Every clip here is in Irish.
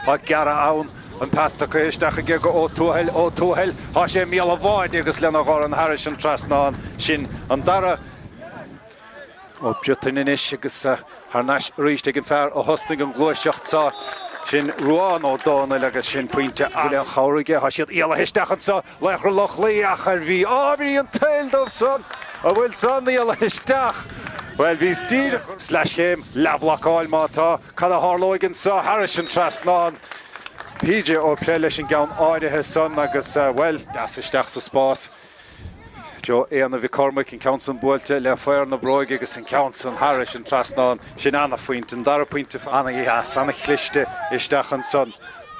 Tá gearradh ann. An pas tugtha isteach aige go Ó Tuathail, Ó Tuathail. Tá sé i mbéal an bháid agus lena dhorn thairis an trasnán sin an dara. Ó Briottain anois agus thar n-ais arís ag an fear a thosnaigh an ghluaiseacht so. Sin Ruán Ó Dónaill agus sin pointe le han-chabhair aige. Tá siad éalaithe isteach anso, Laochra Loch Lao ach ar bhí. Á bhí an t-ádh leo ansan. An bhfuil san éalaithe isteach? Bhuel bhíos díreach. Sleaschéim, leathbhlocáil má tá. Cad a tharlóidh anso thairis an trasnán? PJ Ó Plé leis an gceann áirithe san agus, bhuel, deas isteach sa spás. do Éanna Mhic Cormaic, an ceann san buailte le faor na bróige agus an ceann san thairis an trasnán. Sin ana-phointe. An dara pointe, ana-dheas, ana-chliste isteach ansan.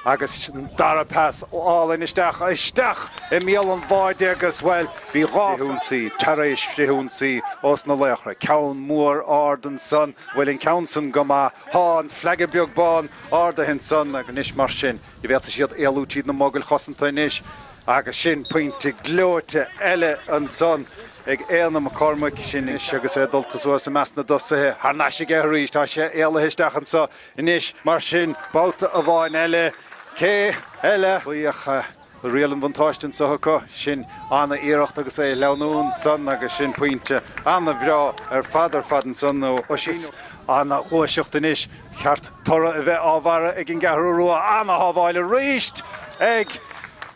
Agus an dara pas álainn isteach, isteach i mbéal an bháid agus, bhuel, bhí dhá frithionsaí tar éis frithionsaí ós na laochra, ceann mór ard ansan, an bhfuil an ceann san go maith, tá, an fleaig beag bán ardaithe ansan agus anois mar sin, an bhféadfaidh siad éalú tríd na mogaill chosanta anois agus sin pointe gleoite eile ansan ag Éanna McCormack, sin anois agus é dulta suas i measc na dtosaithe, thar n-ais aige arís, tá sé éalaithe isteach anso, Anois mar sin, babhta amháin eile, cé eile a bheadh, riail an bhuntáiste anso acu? Sin ana-iarracht agus é ag sleamhnú ansan agus sin pointe ana-bhreá ar fad ar fad ansan ó Oisín. Ana-ghluaiseacht anois, cheart toradh a bheith á bharr ag an gCeathrú Rua ana-shábháil arís ag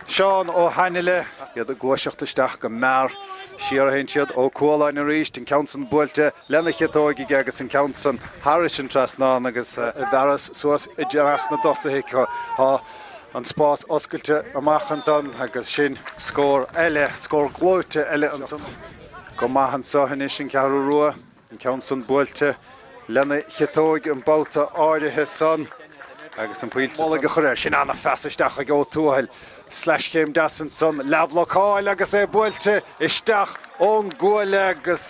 Seán Ó hAinle, iad ag gluaiseacht isteach go mear, siar a théann siad, Ó Cualáin arís, an ceann san buailte, lena chiotóig aige agus an ceann san thairis an trasnán agus. Fearghas thuas i measc na dtosaithe acu. Tá an spás oscailte amach ansan agus sin. scór eile, scór gleoite eile ansan. Go maith anso anois an Cheathrú Rua, an ceann san buailte lena chiotóig an babhta áirithe san agus an buille mullaigh a chur air. Sin an-phas isteach ag Ó Tuathail. Sleaschéim deas ansan, leathbhlocáil agus é buailte isteach ón gcuaille agus.